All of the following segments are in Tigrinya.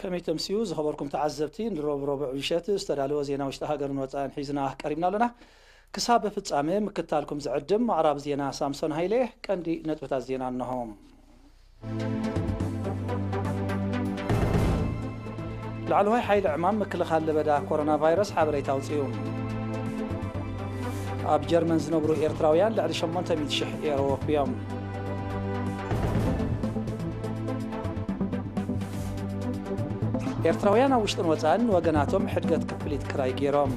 ከመይ ተምስዩ ዝኸበርኩም ተዓዘብቲ ንሮብ ረቡዕ ምሸት ዝተዳለወ ዜና ውሽጢ ሃገርን ወጻኢን ሒዝና ቀሪብና ኣሎና ክሳብ ፍጻሜ ምክታልኩም ዝዕድም ኣቕራቢ ዜና ሳምሶን ሃይለ እየ ቀንዲ ነጥብታት ዜና እንሆ ላዕለዋይ ሓይሊ ዕማም ምክልኻል ለበዳ ኮሮና ቫይረስ ሓበሬታ ኣውፅኡ። ኣብ ጀርመን ዝነብሩ ኤርትራውያን ልዕሊ 800,000 ኤሮ ወፍዮም። ኤርትራውያን ኣብ ውሽጥን ወጻእን ንወገናቶም ሕድገት ክፍሊት ክራይ ገይሮም።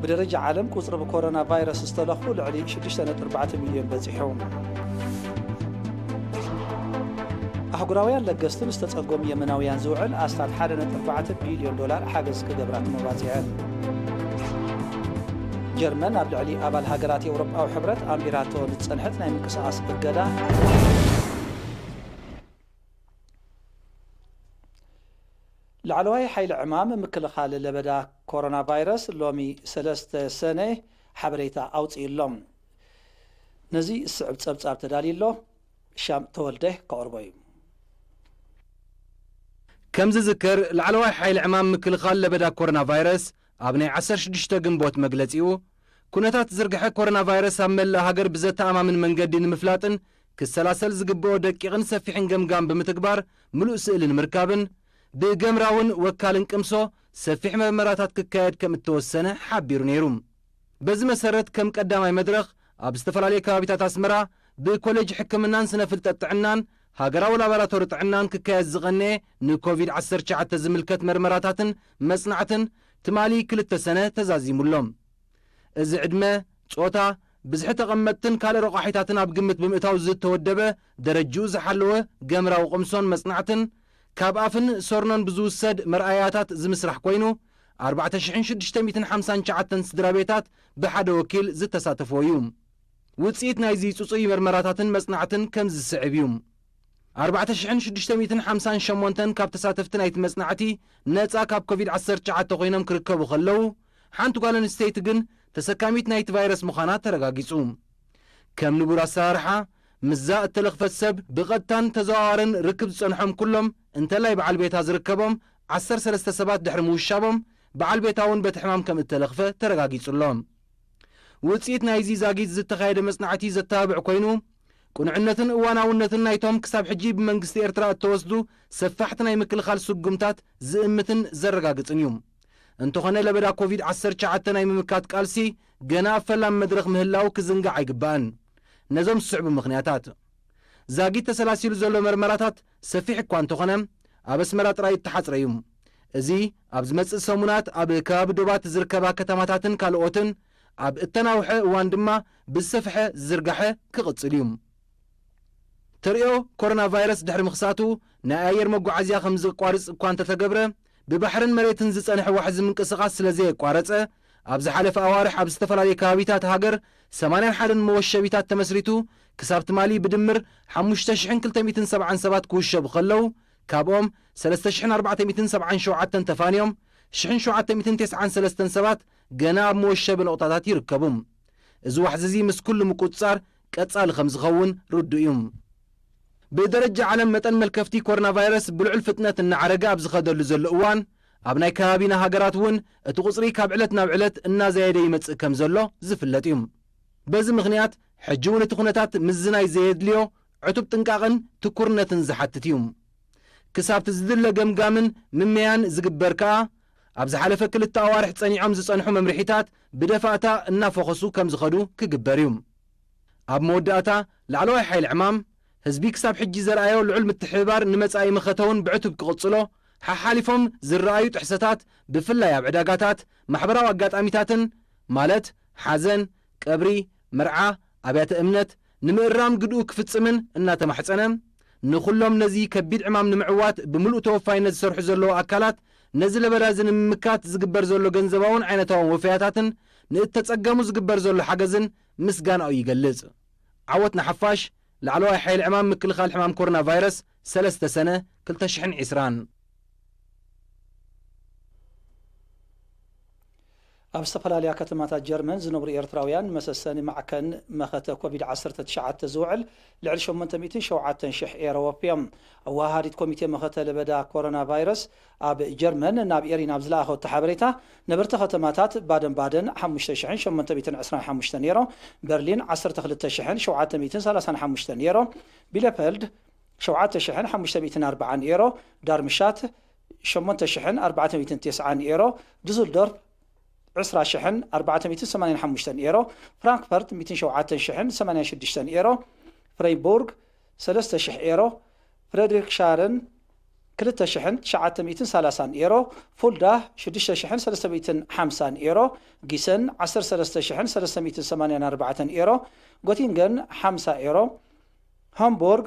ብደረጃ ዓለም ቁጽሪ ብኮሮና ቫይረስ ዝተለኽፉ ልዕሊ ሽዱሽተ ነጥቢ ኣርባዕተ ሚልዮን በጺሑ። ኣህጉራውያን ለገስቲ ንዝተጸገሙ የመናውያን ዝውዕል ኣስታት ሓደ ነጥቢ ኣርባዕተ ቢልዮን ዶላር ሓገዝ ክገብራ ተመባጺዐን። ጀርመን ኣብ ልዕሊ ኣባል ሃገራት ኤውሮጳዊ ሕብረት ኣንቢራቶ ንዝጸንሐት ናይ ምንቅስቓስ እገዳ፣ ላዕለዋይ ሓይሊ ዕማም ምክልኻል ለበዳ ኮሮናቫይረስ ሎሚ ሰለስተ ሰነ ሓበሬታ ኣውጺኡ'ሎ። ነዚ ዝስዕብ ጸብጻብ ተዳልዩ'ሎ። ሻም ተወልደ ከቕርቦ እዩ። ከምዝዝከር ላዕለዋይ ሓይሊ ዕማም ምክልኻል ለበዳ ኮሮናቫይረስ ኣብ ናይ ዓሰርተ ሽዱሽተ ግንቦት መግለጺኡ፣ ኩነታት ዝርግሐ ኮሮናቫይረስ ኣብ መላእ ሃገር ብዘተኣማምን መንገዲ ንምፍላጥን ክሰላሰል ዝግበኦ ደቂቕን ሰፊሕን ገምጋም ብምትግባር ምሉእ ስእሊ ንምርካብን ብገምራውን ወካልን ቅምሶ ሰፊሕ መርመራታት ክካየድ ከምእተወሰነ ሓቢሩ ነይሩ። በዚ መሰረት ከም ቀዳማይ መድረኽ ኣብ ዝተፈላለዩ ከባቢታት ኣስመራ ብኮሌጅ ሕክምናን ስነ ፍልጠት ጥዕናን ሃገራዊ ላባራቶሪ ጥዕናን ክካየድ ዝቐነየ ንኮቪድ ዓሰርተ ትሽዓተ ዝምልከት መርመራታትን መጽናዕትን ትማሊ ክልተ ሰነ ተዛዚሙ ኣሎ። እዚ ዕድመ፣ ጾታ፣ ብዝሒ ተቐመጥትን ካልእ ረቋሒታትን ኣብ ግምት ብምእታው ዝተወደበ ደረጅኡ ዝሓለወ ገምራዊ ቅምሶን መጽናዕትን ካብ ኣፍን ሰርኖን ብዝውሰድ መርኣያታት ዝምስራሕ ኮይኑ ኣርባዕተ ሽሕን ሽዱሽተ ሚእትን ሓምሳን ትሽዓተን ስድራቤታት ብሓደ ወኪል ዝተሳተፍዎ እዩ። ውጽኢት ናይዚ ጽጹይ መርመራታትን መጽናዕትን ከምዚ ዝስዕብ እዩ። ኣርባዕተ ሽሕን ሽዱሽተ ሚእትን ሓምሳን ሸሞንተን ካብ ተሳተፍቲ ናይቲ መጽናዕቲ ነጻ ካብ ኮቪድ ዓሰርተ ትሽዓተ ኮይኖም ክርከቡ ከለዉ፣ ሓንቲ ጓል ኣንስተይቲ ግን ተሰካሚት ናይቲ ቫይረስ ምዃና ተረጋጊጹ። ከም ንቡር ኣሰራርሓ፣ ምስዛ እተለኽፈት ሰብ ብቐጥታን ተዘዋዋርን ርክብ ዝጸንሖም ኩሎም፣ እንተላይ በዓል ቤታ ዝርከቦም ዓሰርተ ሰለስተ ሰባት ድሕሪ ምውሻቦም በዓል ቤታ'ውን በቲ ሕማም ከምእተለኽፈ ተረጋጊጹ'ሎ። ውጽኢት ናይዚ ዛጊት ዝተኻየደ መጽናዕቲ ዘተባብዕ ኮይኑ፣ ቅኑዕነትን እዋናውነትን ናይቶም ክሳብ ሕጂ ብመንግስቲ ኤርትራ እተወስዱ ሰፋሕቲ ናይ ምክልኻል ስጉምታት ዝእምትን ዘረጋግጽን እዩ። እንተኾነ ለበዳ ኮቪድ ዓሰርተ ትሽዓተ ናይ ምምካት ቃልሲ ገና ኣብ ፈላሚ መድረኽ ምህላዉ ክዝንጋዕ ኣይግባእን። ነዞም ዝስዕቡ ምኽንያታት። ዛጊት ተሰላሲሉ ዘሎ መርመራታት ሰፊሕ እኳ እንተኾነ ኣብ ኣስመራ ጥራይ እተሓጽረ'ዩ። እዚ ኣብ ዝመጽእ ሰሙናት ኣብ ከባቢ ዶባት ዝርከባ ከተማታትን ካልኦትን ኣብ እተናውሐ እዋን ድማ ብዝሰፍሐ ዝዝርጋሐ ክቕጽል እዩ። ተርእዮ ኮሮናቫይረስ ድሕሪ ምኽሳቱ ናይ ኣየር መጓዓዝያ ከምዝቋርጽ እኳ እንተተገብረ ብባሕርን መሬትን ዝጸንሐ ዋሕዚ ምንቅስቓስ ስለ ዘየቋረጸ፣ ኣብ ዝሓለፈ ኣዋርሕ ኣብ ዝተፈላለየ ከባቢታት ሃገር ሰማንያን ሓደን መወሸቢታት ተመስሪቱ ክሳብ ትማሊ ብድምር ሓሙሽተ ሽሕን ክልተ ሚእትን ሰብዓን ሰባት ክውሸቡ ከለዉ ካብኦም ሰለስተ ሽሕን ኣርባዕተ ሚእትን ሰብዓን ሸውዓተን ተፋንዮም ሽሕን ሸውዓተ ሚእትን ቴስዓን ሰለስተን ሰባት ገና ኣብ መወሸቢ ነቑጣታት ይርከቡ። እዚ ዋሕዚ እዚ ምስ ኩሉ ምቁጽጻር ቀጻሊ ከም ዝኸውን ርዱእ እዩ። ብደረጃ ዓለም መጠን መልከፍቲ ኮሮናቫይረስ ብልዑል ፍጥነት እናዓረገ ኣብ ዝኸደሉ ዘሎ እዋን፣ ኣብ ናይ ከባቢና ሃገራት እውን እቲ ቁጽሪ ካብ ዕለት ናብ ዕለት እናዛየደ ይመጽእ ከም ዘሎ ዝፍለጥ እዩ። በዚ ምኽንያት ሕጂ እውን እቲ ኩነታት ምዝናይ ዘየድልዮ ዕቱብ ጥንቃቕን ትኩርነትን ዝሓትት እዩ። ክሳብ'ቲ ዝድለ ገምጋምን ምመያን ዝግበር ከኣ ኣብ ዝሓለፈ ክልተ ኣዋርሕ ፀኒዖም ዝፀንሑ መምርሒታት ብደፋእታ እናፎኸሱ ከምዝኸዱ ክግበር እዩ። ኣብ መወዳእታ ላዕለዋይ ሓይሊ ዕማም፣ ህዝቢ ክሳብ ሕጂ ዘርኣዮ ልዑል ምትሕብባር ንመፃኢ መኸተ'ውን ብዕቱብ ክቕፅሎ፣ ሓሓሊፎም ዝርኣዩ ጥሕሰታት ብፍላይ ኣብ ዕዳጋታት፣ ማሕበራዊ ኣጋጣሚታትን ማለት ሓዘን፣ ቀብሪ፣ መርዓ፣ ኣብያተ እምነት፣ ንምእራም ግድኡ ክፍጽምን እናተማሕጸነ፣ ንኹሎም ነዚ ከቢድ ዕማም ንምዕዋት ብምሉእ ተወፋይነት ዝሰርሑ ዘለዉ ኣካላት፣ ነዚ ለበዳዚ ንምምካት ዝግበር ዘሎ ገንዘባውን ዓይነታውን ወፈያታትን ንእተጸገሙ ዝግበር ዘሎ ሓገዝን ምስጋናኡ ይገልጽ። ዓወት ንሓፋሽ! ላዕለዋይ ሓይሊ ዕማም ምክልኻል ሕማም ኮሮና ቫይረስ፣ ሰለስተ ሰነ ክልተ ሽሕን ዕስራን። ኣብ ዝተፈላለያ ከተማታት ጀርመን ዝነብሩ ኤርትራውያን መሰሰኒ ማዕከን መኸተ ኮቪድ ዓሰርተ ትሽዓተ ዝውዕል ልዕሊ ሸሞንተ ሚእትን ሸውዓተን ሽሕ ኤረ ወፍዮም። ኣወሃሃዲት ኮሚቴ መኸተ ለበዳ ኮሮና ቫይረስ ኣብ ጀርመን ናብ ኤሪ ናብ ዝለኣኸቶ ሓበሬታ፣ ነበርቲ ከተማታት ባደን ባደን ሓሙሽተ ሽሕን ሸሞንተ ሚእትን ዕስራን ሓሙሽተን ኤሮ፣ በርሊን ዓሰርተ ክልተ ሽሕን ሸውዓተ ሚእትን ሰላሳን ሓሙሽተን ኤሮ፣ ቢለፈልድ ሸውዓተ ሽሕን ሓሙሽተ ሚእትን ኣርብዓን ኤሮ፣ ዳርምሽታት፣ ሸሞንተ ሽሕን ኣርባዕተ ሚእትን ቴስዓን ኤሮ፣ ዱስልዶርፍ ዕስራ ሽሕን ኣርባዕተ ሚእትን ሰማንያን ሓሙሽተን ኤሮ፣ ፍራንክፈርት ሚእትን ሸውዓተን ሽሕን ሰማንያን ሽዱሽተን ኤሮ፣ ፍረይቡርግ ሰለስተ ሽሕ ኤሮ፣ ፍረድሪክሻርን ክልተ ሽሕን ትሽዓተ ሚእትን ሰላሳን ኤሮ፣ ፉልዳ ሽዱሽተ ሽሕን ሰለስተ ሚእትን ሓምሳን ኤሮ፣ ጊሰን ዓሰርተ ሰለስተ ሽሕን ሰለስተ ሚእትን ሰማንያን ኣርባዕተን ኤሮ፣ ጎቲንገን ሓምሳ ኤሮ፣ ሃምቡርግ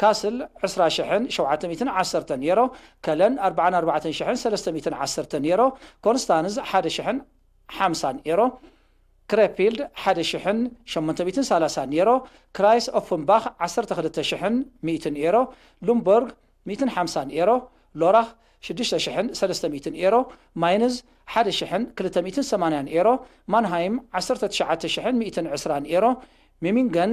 ካስል ዕስራ ሽሕን ሸውዓተ ሚእትን ዓሰርተ ኔሮ፣ ከለን ኣርብዓን ኣርባዕተን ሽሕን ሰለስተ ሚእትን ዓሰርተ ኔሮ፣ ኮንስታንዝ ሓደ ሽሕን ሓምሳን ኤሮ፣ ክረፊልድ ሓደ ሽሕን ሸሞንተ ሚእትን ሰላሳን ኔሮ፣ ክራይስ ኦፍንባኽ ዓሰርተ ክልተ ሽሕን ሚእትን ኤሮ፣ ሉምቦርግ ሚእትን ሓምሳን ኤሮ፣ ሎራኽ ሽዱሽተ ሽሕን ሰለስተ ሚእትን ኤሮ፣ ማይንዝ ሓደ ሽሕን ክልተ ሚእትን ሰማንያን ኤሮ፣ ማንሃይም ዓሰርተ ትሽዓተ ሽሕን ሚእትን ዕስራን ኤሮ፣ ሚሚንገን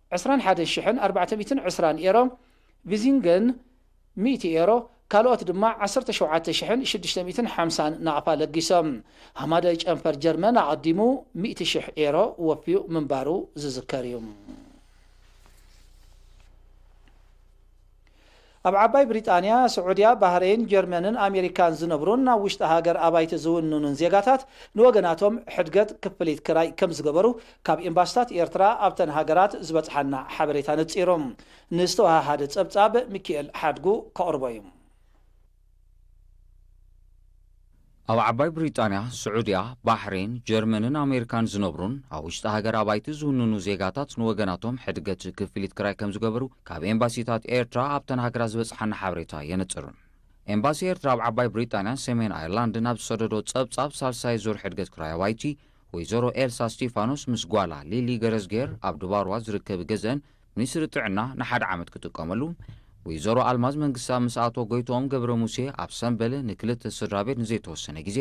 ዕስራን ሓደ ሽሕን ኣርባዕተ ሚእትን ዕስራን ኤሮ፣ ቪዚንገን፣ ሚእቲ ኤሮ፣ ካልኦት ድማ ዓሰርተ ሸውዓተ ሽሕን ሽዱሽተ ሚእትን ሓምሳን ናቕፋ ለጊሶም። ሃማዳይ ጨንፈር ጀርመን ኣቐዲሙ ሚእቲ ሽሕ ኤሮ ወፍዩ ምንባሩ ዝዝከር እዩ። ኣብ ዓባይ ብሪጣንያ፣ ስዑድያ፣ ባህረይን፣ ጀርመንን ኣሜሪካን ዝነብሩን ናብ ውሽጢ ሃገር ኣባይቲ ዝውንኑን ዜጋታት ንወገናቶም ሕድገት ክፍሊት ክራይ ከምዝገበሩ ካብ ኤምባሲታት ኤርትራ ኣብተን ሃገራት ዝበጽሓና ሓበሬታ ነጺሩ ንዝተወሃሃደ ጸብጻብ ሚኪኤል ሓድጉ ከቕርቦ'ዩ። ኣብ ዓባይ ብሪጣንያ፣ ስዑድያ፣ ባሕሬን፣ ጀርመንን ኣሜሪካን ዝነብሩን ኣብ ውሽጢ ሃገር ኣባይቲ ዝውንኑ ዜጋታት ንወገናቶም ሕድገት ክፍሊት ክራይ ከምዝገበሩ ካብ ኤምባሲታት ኤርትራ ኣብተን ሃገራት ዝበጽሓና ሓበሬታ የነጽር። ኤምባሲ ኤርትራ ኣብ ዓባይ ብሪጣንያን ሰሜን ኣየርላንድን ኣብ ዝሰደዶ ጸብጻብ ሳልሳይ ዙር ሕድገት ክራይ ኣባይቲ ወይዘሮ ኤልሳ እስቲፋኖስ ምስ ጓላ ሊሊ ገረዝግሄር ኣብ ድባርዋ ዝርከብ ገዝኣን ሚኒስትሪ ጥዕና ንሓደ ዓመት ክጥቀመሉ ወይዘሮ ኣልማዝ መንግስትኣብ ምስ ኣቶ ጎይትኦም ገብረ ሙሴ ኣብ ሰምበል ንክልተ ስድራቤት ንዘይተወሰነ ግዜ፣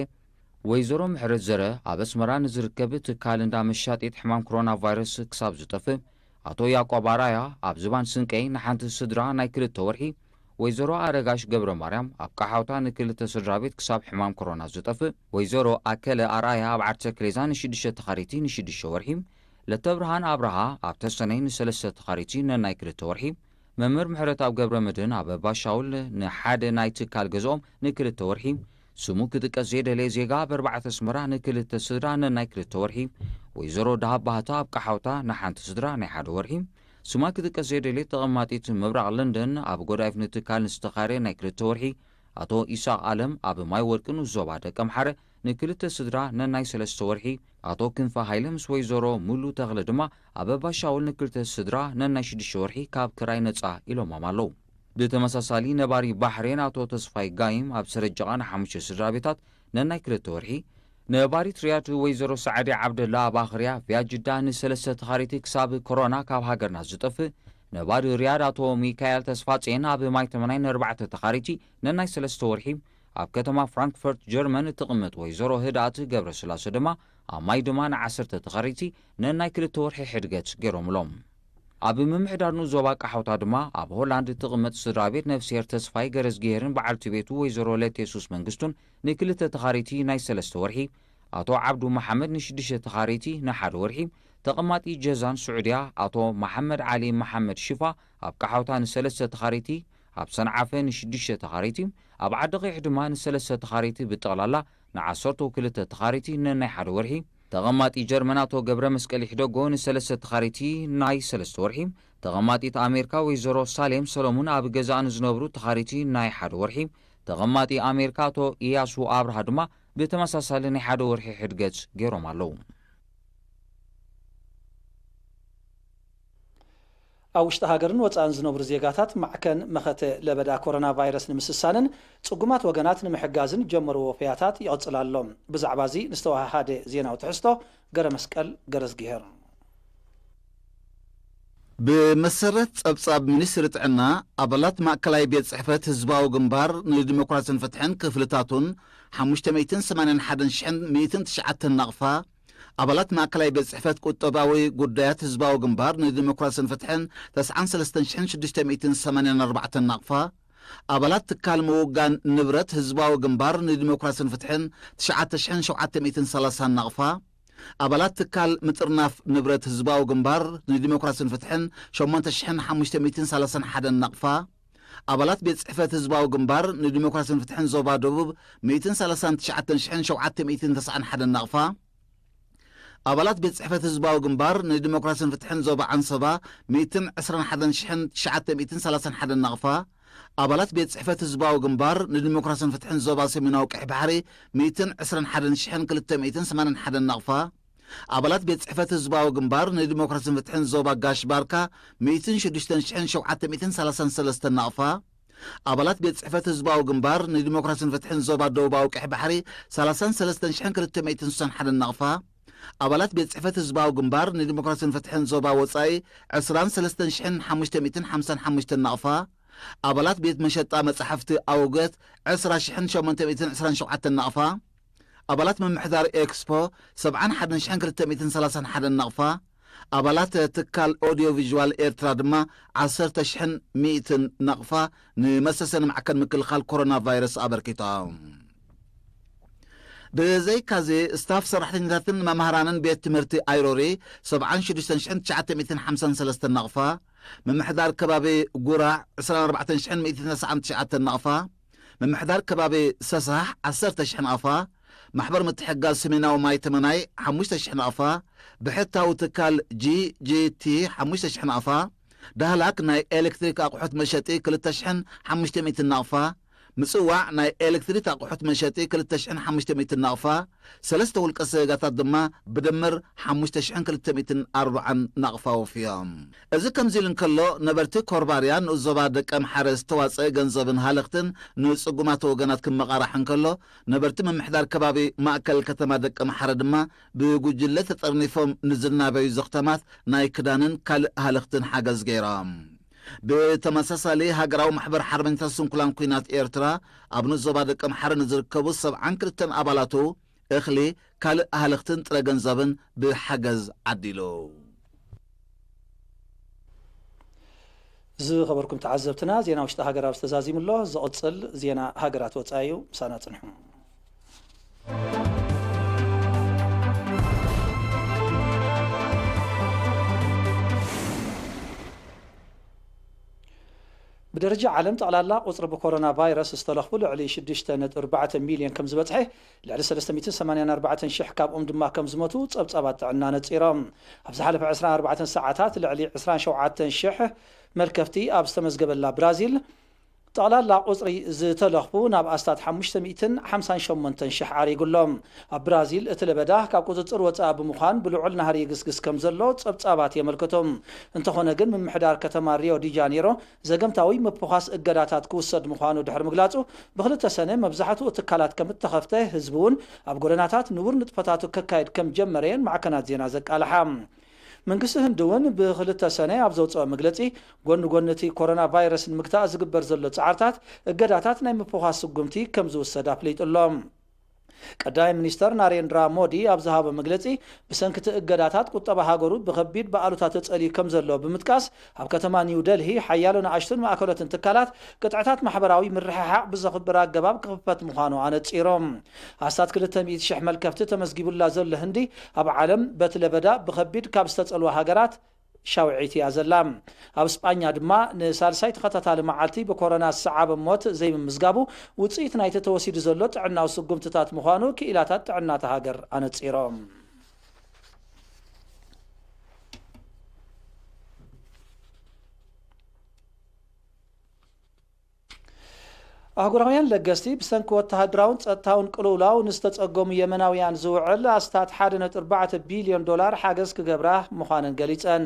ወይዘሮ ምሕረት ዘረ ኣብ ኣስመራ ንዝርከብ ትካል እንዳ መሻጢት ሕማም ክሮና ቫይረስ ክሳብ ዝጠፍእ፣ ኣቶ ያቆብ ኣርኣያ ኣብ ዝባን ስንቀይ ንሓንቲ ስድራ ናይ ክልተ ወርሒ፣ ወይዘሮ ኣረጋሽ ገብረማርያም ኣብ ቀሓውታ ንክልተ ስድራቤት ክሳብ ሕማም ክሮና ዝጠፍእ፣ ወይዘሮ ኣከለ ኣርኣያ ኣብ ዓርሰ ክሬዛ ንሽዱሽተ ተኻሪቲ ንሽዱሽተ ወርሒ፣ ለተብርሃን ኣብርሃ ኣብ ተሰነይ ንሰለስተ ተኻሪቲ ነናይ ክልተ ወርሒ፣ መምህር ምሕረትኣብ ገብረመድህን ኣብ ባሻውል ንሓደ ናይ ትካል ገዝኦም ንክልተ ወርሒ፣ ስሙ ክጥቀስ ዘይደለየ ዜጋ ኣብ ኣርባዕተ ኣስመራ ንክልተ ስድራ ነናይ ክልተ ወርሒ፣ ወይዘሮ ደሃብ ባህታ ኣብ ቀሓውታ ንሓንቲ ስድራ ናይ ሓደ ወርሒ፣ ስማ ክጥቀስ ዘይደለየት ተቐማጢት ምብራቕ ለንደን ኣብ ጎዳይፍ ንትካል ንዝተኻረየ ናይ ክልተ ወርሒ፣ ኣቶ ኢሳቕ ኣለም ኣብ ማይወርቂ ንዞባ ደቀምሓረ፣ ንክልተ ስድራ ነናይ ሰለስተ ወርሒ፣ ኣቶ ክንፈ ሃይለ ምስ ወይዘሮ ሙሉ ተኽለ ድማ ኣበባ ሻውል ንክልተ ስድራ ነናይ ሽዱሽተ ወርሒ ካብ ክራይ ነጻ ኢሎሞም ኣለዉ። ብተመሳሳሊ ነባሪ ባሕሬን ኣቶ ተስፋይ ጋይም ኣብ ሰረጀቓ ንሓሙሽተ ስድራቤታት ነናይ ክልተ ወርሒ፣ ነባሪት ሪያድ ወይዘሮ ሰዓዲ ዓብደላ ኣብ ኣኽርያ ቪያጅዳ ንሰለስተ ተኻሪቲ ክሳብ ኮሮና ካብ ሃገርና ዝጠፍእ፣ ነባሪ ሪያድ ኣቶ ሚካኤል ተስፋጼን ኣብ ማይተመናይ ንኣርባዕተ ተኻሪቲ ነናይ ሰለስተ ወርሒ፣ ኣብ ከተማ ፍራንክፈርት ጀርመን እትቕመጥ ወይዘሮ ህድኣት ገብረስላሰ ድማ ኣብ ማይ ድማ ንዓሰርተ ተኻሪቲ ነናይ ክልተ ወርሒ ሕድገት ገይሮምሎም። ኣብ ምምሕዳር ንኡስ ዞባ ቃሓውታ ድማ ኣብ ሆላንድ እትቕመጥ ስድራቤት ነፍስሄር ተስፋይ ገረዝግሄርን በዓልቲ ቤቱ ወይዘሮ ለቴሱስ መንግስቱን ንክልተ ተኻሪቲ ናይ ሰለስተ ወርሒ፣ ኣቶ ዓብዱ መሓመድ ንሽዱሽተ ተኻሪቲ ንሓደ ወርሒ፣ ተቐማጢ ጀዛን ስዑድያ ኣቶ መሓመድ ዓሊ መሓመድ ሽፋ ኣብ ቃሓውታ ንሰለስተ ተኻሪቲ፣ ኣብ ሰንዓፈ ንሽዱሽተ ተኻረይቲ፣ ኣብ ዓዲ-ቚሕ ድማ ንሰለስተ ተኻረይቲ ብጠቕላላ ንዓሰርተው ክልተ ተኻረይቲ ነናይ ሓደ ወርሒ፣ ተቐማጢ ጀርመን ኣቶ ገብረመስቀል ይሕደጎ ንሰለስተ ተኻረይቲ ናይ ሰለስተ ወርሒ፣ ተቐማጢት ኣሜርካ ወይዘሮ ሳሌም ሰለሙን ኣብ ገዛኣ ንዝነብሩ ተኻረይቲ ናይ ሓደ ወርሒ፣ ተቐማጢ ኣሜርካ ኣቶ ኢያሱ ኣብርሃ ድማ ብተመሳሳሊ ናይ ሓደ ወርሒ ሕድገጽ ገይሮም ኣለዉ። ኣብ ውሽጢ ሃገርን ወፃእን ዝነብሩ ዜጋታት ማዕከን መኸተ ለበዳ ኮሮና ቫይረስ ንምስሳንን ፅጉማት ወገናት ንምሕጋዝን ጀመርዎ ወፈያታት ይቕፅል ኣሎ። ብዛዕባ እዚ ንዝተወሃሃደ ዜናዊ ትሕዝቶ ገረመስቀል ገረዝጊሄር። ብመሰረት ፀብፃብ ሚኒስትሪ ጥዕና፣ ኣባላት ማእከላይ ቤት ፅሕፈት ህዝባዊ ግንባር ንዲሞክራሲን ፍትሕን ክፍልታቱን ሓሙሽተ ሚእትን ሰማንያን ሓደን ሽሕን ሚእትን ትሽዓተን ናቕፋ፣ ኣባላት ማእከላይ ቤት ጽሕፈት ቁጠባዊ ጉዳያት ህዝባዊ ግንባር ንዲሞክራስን ፍትሕን ተስዓን ሰለስተን ሽሕን ሽዱሽተ ሚእትን ሰማንያን ኣርባዕተን ናቕፋ ኣባላት ትካል ምውጋን ንብረት ህዝባዊ ግንባር ንዲሞክራስን ፍትሕን ትሽዓተ ሽሕን ሸውዓተ ሚእትን ሰላሳን ናቕፋ ኣባላት ትካል ምጥርናፍ ንብረት ህዝባዊ ግንባር ንዲሞክራስን ፍትሕን ሸሞንተ ሽሕን ሓሙሽተ ሚእትን ሰላሳን ሓደን ናቕፋ ኣባላት ቤት ጽሕፈት ህዝባዊ ግንባር ንዲሞክራስን ፍትሕን ዞባ ደቡብ ሚእትን ሰላሳን ትሽዓተን ሽሕን ሸውዓተ ሚእትን ተስዓን ሓደን ናቕፋ ኣባላት ቤት ጽሕፈት ህዝባዊ ግንባር ንዲሞክራስን ፍትሕን ዞባ ዓንሰባ ሚእትን ዕስራን ሓደን ሽሕን ትሽዓተ ሚእትን ሰላሳን ሓደን ናቕፋ ኣባላት ቤት ጽሕፈት ህዝባዊ ግንባር ንዲሞክራስን ፍትሕን ዞባ ሰሜናዊ ቀይሕ ባሕሪ ሚእትን ዕስራን ሓደን ሽሕን ክልተ ሚእትን ሰማንያን ሓደን ናቕፋ ኣባላት ቤት ጽሕፈት ህዝባዊ ግንባር ንዲሞክራስን ፍትሕን ዞባ ጋሽ ባርካ ሚእትን ሽዱሽተን ሽሕን ሸውዓተ ሚእትን ሰላሳን ሰለስተን ናቕፋ፣ ኣባላት ቤት ጽሕፈት ህዝባዊ ግንባር ንዲሞክራስን ፍትሕን ዞባ ደቡባዊ ቀይሕ ባሕሪ ሰላሳን ሰለስተን ሽሕን ክልተ ሚእትን ስሳን ሓደን ናቕፋ፣ ኣባላት ቤት ጽሕፈት ህዝባዊ ግንባር ንዲሞክራስን ፍትሕን ዞባ ወጻኢ ዕስራን ሰለስተን ሽሕን ሓሙሽተ ሚእትን ሓምሳን ሓሙሽተን ናቕፋ፣ ኣባላት ቤት መሸጣ መጻሕፍቲ ኣውገት ዕስራ ሽሕን ሸሞንተ ሚእትን ዕስራን ሸውዓተን ናቕፋ፣ ኣባላት ምምሕዳር ኤክስፖ ሰብዓን ሓደን ሽሕን ክልተ ሚእትን ሰላሳን ሓደን ናቕፋ፣ ኣባላት ትካል ኦድዮ ቪዥዋል ኤርትራ ድማ ዓሰርተ ሽሕን ሚእትን ናቕፋ ንመሰሰኒ ማዕከን ምክልኻል ኮሮና ቫይረስ ኣበርኪቶም። ብዘይካዚ ስታፍ ሰራሕተኛታትን መማህራንን ቤት ትምህርቲ ኣይሮሪ ሰብዓን ሽዱሽተን ሽሕን ትሽዓተ ሚእትን ሓምሳን ሰለስተን ናቕፋ፣ ምምሕዳር ከባቢ ጉራዕ ዕስራን ኣርባዕተን ሽሕን ሚእትን ተስዓን ትሽዓተን ናቕፋ፣ ምምሕዳር ከባቢ ሰሳሕ ዓሰርተ ሽሕ ናቕፋ፣ ማሕበር ምትሕግጋዝ ሰሜናዊ ማይ ተመናይ ሓሙሽተ ሽሕ ናቕፋ፣ ብሕታዊ ትካል GGT ሓሙሽተ ሽሕ ናቕፋ፣ ዳህላክ ናይ ኤለክትሪክ ኣቑሑት መሸጢ ክልተ ሽሕን ሓሙሽተ ሚእትን ናቕፋ፣ ምጽዋዕ ናይ ኤለክትሪት ኣቑሑት መሸጢ ክልተ ሽሕን ሓሙሽተ ሚእትን ናቕፋ፣ ሰለስተ ውልቀ ሰገጋታት ድማ ብድምር ሓሙሽተ ሽሕን ክልተ ሚእትን ኣርብዓን ናቕፋ ወፍዮም። እዚ ከምዚ ኢሉ እንከሎ ነበርቲ ኮርባርያ ንኡስ ዞባ ደቀምሓረ ዝተዋጸ ገንዘብን ሃለኽትን ንጽጉማት ወገናት ክመቓራሕ እንከሎ ነበርቲ ምምሕዳር ከባቢ ማእከል ከተማ ደቀምሓረ ድማ ብጉጅለ ተጠርኒፎም ንዝናበዩ ዘኽተማት ናይ ክዳንን ካልእ ሃለኽትን ሓገዝ ገይሮም። ብተመሳሳሊ ሃገራዊ ማሕበር ሓርበኛታት ስንኩላን ኲናት ኤርትራ ኣብ ንኡስ ዞባ ደቀ ምሓረ ንዝርከቡ ሰብዓን ክልተን ኣባላቱ እኽሊ፣ ካልእ ኣህልኽትን ጥረ ገንዘብን ብሓገዝ ዓዲሉ። ዝኸበርኩም ተዓዘብትና ዜና ውሽጢ ሃገር ኣብዚ ተዛዚሙ ኣሎ። ዝቕጽል ዜና ሃገራት ወጻኢ እዩ። ምሳና ጽንሑ። ብደረጃ ዓለም ጠቕላላ ቁፅሪ ብኮሮና ቫይረስ ዝተለኽፉ ልዕሊ 6.4 ሚልዮን ከም ዝበፅሐ ልዕሊ 384 ሽሕ ካብኦም ድማ ከም ዝሞቱ ፀብፃባት ጥዕና ነፂሮም። ኣብ ዝሓለፈ 24 ሰዓታት ልዕሊ 27 ሽሕ መልከፍቲ ኣብ ዝተመዝገበላ ብራዚል ጠቕላላ ቁጽሪ ዝተለኽፉ ናብ ኣስታት ሓሙሽተ ሚእትን ሓምሳን ሸሞንተን ሽሕ ዓሪጉ ኣሎ። ኣብ ብራዚል እቲ ለበዳ ካብ ቁጽጽር ወጻኢ ብምዃን ብልዑል ናህሪ ይግስግስ ከምዘሎ ጸብጻባት የመልክቱ። እንተኾነ ግን ምምሕዳር ከተማ ሪዮ ዲጃኔሮ ዘገምታዊ ምፍዃስ እገዳታት ክውሰድ ምዃኑ ድሕሪ ምግላጹ ብክልተ ሰነ መብዛሕትኡ ትካላት ከምእተኸፍተ ህዝቢ'ውን ኣብ ጎደናታት ንቡር ንጥፈታቱ ከካይድ ከምጀመረ'የን ማዕከናት ዜና ዘቃልሓ። መንግስቲ ህንዲ እውን ብክልተ ሰነ ኣብ ዘውፀኦ መግለፂ፣ ጎኒ ጎኒ እቲ ኮሮና ቫይረስ ንምግታእ ዝግበር ዘሎ ፃዕርታት፣ እገዳታት ናይ ምፍዃስ ስጉምቲ ከምዝውሰድ ኣፍሊጡ ኣሎ። ቀዳማይ ሚኒስተር ናሬንድራ ሞዲ ኣብ ዝሃቦ መግለፂ፣ ብሰንኪ እቲ እገዳታት ቁጠባ ሃገሩ ብኸቢድ ብኣሉታ ተፀልዩ ከምዘሎ ብምጥቃስ፣ ኣብ ከተማ ኒው ደልሂ ሓያሎ ንኣሽቱን ማእከሎትን ትካላት፣ ቅጥዕታት ማሕበራዊ ምርሕሓቕ ብዘኽብር ኣገባብ ክኽፈት ምዃኑ ኣነጺሮም። ኣስታት ክልተ ሚእቲ ሽሕ መልከፍቲ ተመዝጊቡላ ዘሎ ህንዲ፣ ኣብ ዓለም በቲ ለበዳ ብኸቢድ ካብ ዝተጸልዋ ሃገራት ሻውዒት እያ ዘላ። ኣብ ስጳኛ ድማ ንሳልሳይ ተኸታታሊ መዓልቲ ብኮሮና ዝሰዓበ ሞት ዘይምምዝጋቡ፣ ውጽኢት ናይቲ ተወሲዱ ዘሎ ጥዕናዊ ስጉምትታት ምዃኑ ክኢላታት ጥዕና እታ ሃገር ኣነጺሮም። ኣህጉራውያን ለገስቲ ብሰንኪ ወተሃደራውን ጸጥታውን ቅልውላው ንዝተጸገሙ የመናውያን ዝውዕል ኣስታት ሓደ ነጥቢ ኣርባዕተ ቢልዮን ዶላር ሓገዝ ክገብራ ምዃነን ገሊጸን።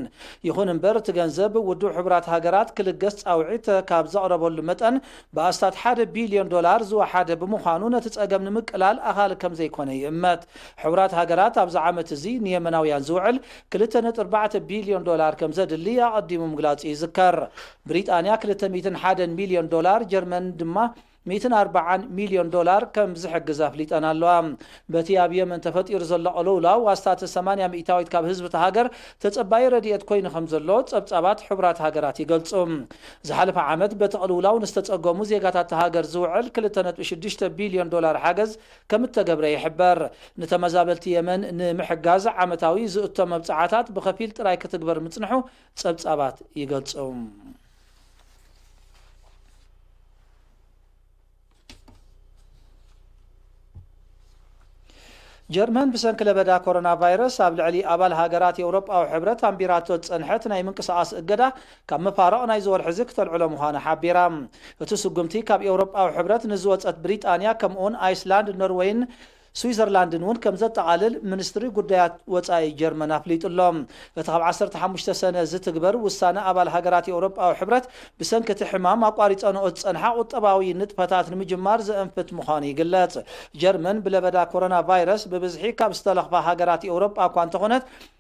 ይኹን እምበር እቲ ገንዘብ ውድብ ሕቡራት ሃገራት ክልገስ ጻውዒት ካብ ዘቕረበሉ መጠን ብኣስታት ሓደ ቢልዮን ዶላር ዝወሓደ ብምዃኑ ነቲ ጸገም ንምቅላል ኣኻሊ ከም ዘይኰነ ይእመት። ሕቡራት ሃገራት ኣብዚ ዓመት እዚ ንየመናውያን ዝውዕል ክልተ ነጥቢ ኣርባዕተ ቢልዮን ዶላር ከም ዘድሊ ኣቐዲሙ ምግላጹ ይዝከር። ብሪጣንያ ክልተ ሚእትን ሓደን ሚልዮን ዶላር፣ ጀርመን ድማ ሚእትን ኣርባዓን ሚልዮን ዶላር ከም ዝሕግዝ ኣፍሊጠን ኣለዋ። በቲ ኣብ የመን ተፈጢሩ ዘሎ ቅልውላው ኣስታት ሰማንያ ሚእታዊት ካብ ህዝቢ እታ ሃገር ተጸባዪ ረድኤት ኮይኑ ከምዘሎ ጸብጻባት ሕቡራት ሃገራት ይገልጹ። ዝሓለፈ ዓመት በቲ ቅልውላው ንዝተጸገሙ ዜጋታት እታ ሃገር ዝውዕል ክልተ ነጥቢ ሽዱሽተ ቢልዮን ዶላር ሓገዝ ከምእተገብረ ይሕበር። ንተመዛበልቲ የመን ንምሕጋዝ ዓመታዊ ዝእቶ መብጽዓታት ብኸፊል ጥራይ ክትግበር ምጽንሑ ጸብጻባት ይገልጹ። ጀርመን ብሰንኪ ለበዳ ኮሮናቫይረስ ኣብ ልዕሊ ኣባል ሃገራት ኤውሮጳዊ ሕብረት ኣንቢራቶ ዝጸንሐት ናይ ምንቅስቓስ እገዳ ካብ መፋርቕ ናይዚ ወርሒ'ዚ ክተልዕሎ ምዃና ሓቢራ። እቲ ስጉምቲ ካብ ኤውሮጳዊ ሕብረት ንዝወጸት ብሪጣንያ ከምኡ'ውን ኣይስላንድ፣ ኖርወይን ስዊዘርላንድን እውን ከም ዘጠቓልል ሚኒስትሪ ጉዳያት ወጻኢ ጀርመን ኣፍሊጡ ኣሎ። እቲ ካብ ዓሰርተ ሓሙሽተ ሰነ ዝትግበር ውሳነ ኣባል ሃገራት ኤውሮጳዊ ሕብረት ብሰንኪ እቲ ሕማም ኣቋሪጸንኦ ዝጸንሓ ቁጠባዊ ንጥፈታት ንምጅማር ዘእንፍት ምዃኑ ይግለጽ። ጀርመን ብለበዳ ኮሮናቫይረስ ብብዝሒ ካብ ዝተለኽፋ ሃገራት ኤውሮጳ እኳ እንተኾነት፣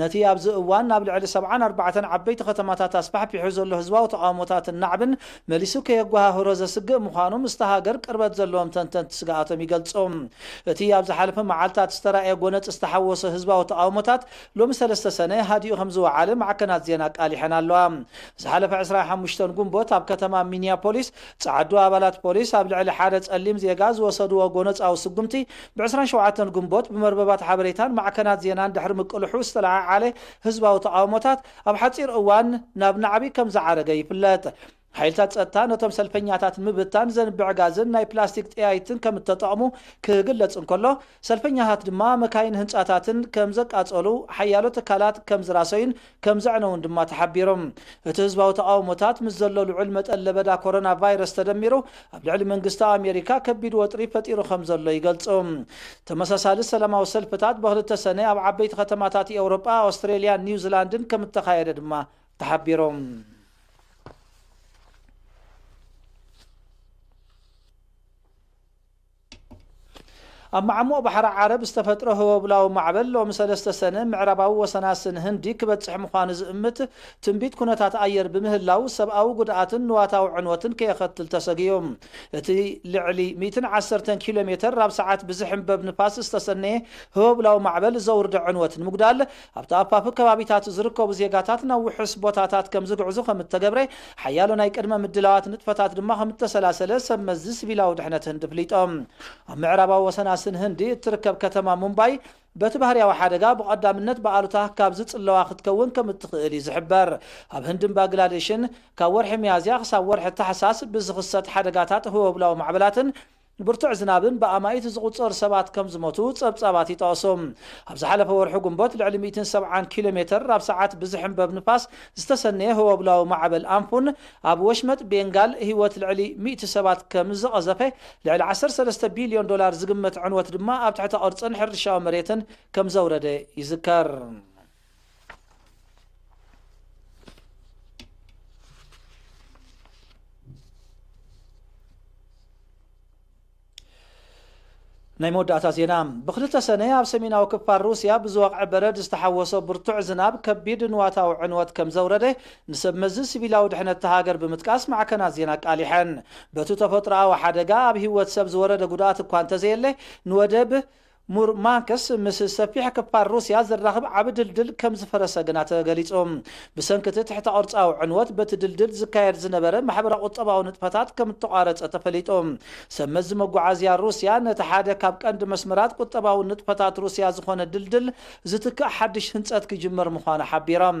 ነቲ ኣብዚ እዋን ናብ ልዕሊ ሰብዓን ኣርባዕተን ዓበይቲ ከተማታት ኣስፋሕፊሑ ዘሎ ህዝባዊ ተቓውሞታትን ናዕብን መሊሱ ከየጓሃህሮ ዘስግእ ምዃኑ ምስታ ሃገር ቅርበት ዘለዎም ተንተንቲ ስግኣቶም ይገልጹ። እቲ ኣብ ዝሓለፈ መዓልታት ዝተራእየ ጎነጽ ዝተሓወሶ ህዝባዊ ተቓውሞታት ሎሚ ሰለስተ ሰነ ሃዲኡ ከምዝወዓለ ማዕከናት ዜና ኣቃሊሐን ኣለዋ። ዝሓለፈ ዕስራን ሓሙሽተን ጉንቦት ኣብ ከተማ ሚኒያፖሊስ ጸዓዱ ኣባላት ፖሊስ ኣብ ልዕሊ ሓደ ጸሊም ዜጋ ዝወሰድዎ ጎነጻዊ ስጉምቲ ብ ዕስራን ሸውዓተን ግንቦት ብመርበባት ሓበሬታን ማዕከናት ዜናን ድሕሪ ምቅልሑ ዝተለዓዓለ ህዝባዊ ተቓውሞታት ኣብ ሓጺር እዋን ናብ ናዕቢ ከም ዝዓረገ ይፍለጥ። ሓይልታት ጸጥታ ነቶም ሰልፈኛታት ንምብታን ዘንብዕ ጋዝን ናይ ፕላስቲክ ጠያይትን ከም እተጠቕሙ ክግለጽ እንከሎ፣ ሰልፈኛታት ድማ መካይንን ህንጻታትን ከም ዘቃጸሉ ሓያሎ ትካላት ከም ዝራሰዩን ከምዘዕነዉን ድማ ተሓቢሩ። እቲ ህዝባዊ ተቓውሞታት ምስ ዘሎ ልዑል መጠን ለበዳ ኮሮና ቫይረስ ተደሚሩ ኣብ ልዕሊ መንግስቲ ኣሜሪካ ከቢድ ወጥሪ ፈጢሩ ከምዘሎ ይገልጹ። ተመሳሳሊ ሰላማዊ ሰልፍታት በክልተ ሰነ ኣብ ዓበይቲ ከተማታት ኤውሮጳ፣ ኣውስትሬልያን ኒውዚላንድን ከምእተኻየደ ድማ ተሓቢሩ። ኣብ መዓሙቕ ባሕሪ ዓረብ ዝተፈጥረ ህቦብላዊ ማዕበል ሎሚ ሰለስተ ሰነ ምዕራባዊ ወሰናስን ህንዲ ክበጽሕ ምዃኑ ዝእምት ትንቢት ኩነታት ኣየር ብምህላው ሰብኣዊ ጉድኣትን ንዋታዊ ዕንወትን ከየኸትል ተሰጊኡ እቲ ልዕሊ ሚእትን ዓሰርተን ኪሎሜተር ኣብ ሰዓት ብዝሕንበብ ንፋስ ዝተሰነየ ህቦብላዊ ማዕበል ዘውርዶ ዕንወት ንምጉዳል ኣብ ተኣፋፊ ከባቢታት ዝርከቡ ዜጋታት ናብ ውሑስ ቦታታት ከም ዝግዕዙ ከም እተገብረ፣ ሓያሎ ናይ ቅድመ ምድላዋት ንጥፈታት ድማ ከም እተሰላሰለ ሰብ መዚ ሲቪላዊ ድሕነት ህንዲ ኣፍሊጦም። ኣብ ምዕራባዊ ወሰናስን ህንዲ እትርከብ ከተማ ሙምባይ በቲ ባህርያዊ ሓደጋ ብቐዳምነት ብኣሉታ ካብ ዝጽለዋ ክትከውን ከም እትኽእል እዩ ዝሕበር። ኣብ ህንድን ባግላዴሽን ካብ ወርሒ ሚያዝያ ክሳብ ወርሒ ታሕሳስ ብዝኽሰት ሓደጋታት ህወብላዊ ማዕበላትን፣ ንብርቱዕ ዝናብን ብኣማኢት ዝቑጸሩ ሰባት ከም ዝሞቱ ጸብጻባት ይጠቕሱ። ኣብ ዝሓለፈ ወርሒ ግንቦት ልዕሊ ሚእትን ሰብዓን ኪሎ ሜተር ኣብ ሰዓት ብዝሕንበብ ንፋስ ዝተሰነየ ህወብላዊ ማዕበል ኣምፉን ኣብ ወሽመጥ ቤንጋል ህይወት ልዕሊ ሚእቲ ሰባት ከም ዝቐዘፈ ልዕሊ ዓሰርተ ሰለስተ ቢልዮን ዶላር ዝግመት ዕንወት ድማ ኣብ ትሕተ ቅርጽን ሕርሻዊ መሬትን ከም ዘውረደ ይዝከር። ናይ መወዳእታ ዜና ብክልተ ሰነ ኣብ ሰሜናዊ ክፋል ሩስያ ብዝወቕዐ በረድ ዝተሓወሶ ብርቱዕ ዝናብ ከቢድ ንዋታዊ ዕንወት ከም ዘውረደ ንሰብ መዚ ሲቪላዊ ድሕነት እታ ሃገር ብምጥቃስ ማዕከናት ዜና ኣቃሊሐን በቲ ተፈጥሮኣዊ ሓደጋ ኣብ ህይወት ሰብ ዝወረደ ጉድኣት እኳ እንተዘየለ ንወደብ ሙርማንክስ ምስ ሰፊሕ ክፋል ሩስያ ዘራኽብ ዓቢ ድልድል ከም ዝፈረሰ ግና ተገሊጹ። ብሰንኪ እቲ ትሕተ-ቅርጻዊ ዕንወት፣ በቲ ድልድል ዝካየድ ዝነበረ ማሕበረ-ቁጠባዊ ንጥፈታት ከም እተቋረጸ ተፈሊጡ። ሰብመዚ መጓዓዝያ ሩስያ ነቲ ሓደ ካብ ቀንዲ መስመራት ቁጠባዊ ንጥፈታት ሩስያ ዝዀነ ድልድል ዝትክእ ሓድሽ ህንጸት ክጅምር ምዃኑ ሓቢሮም።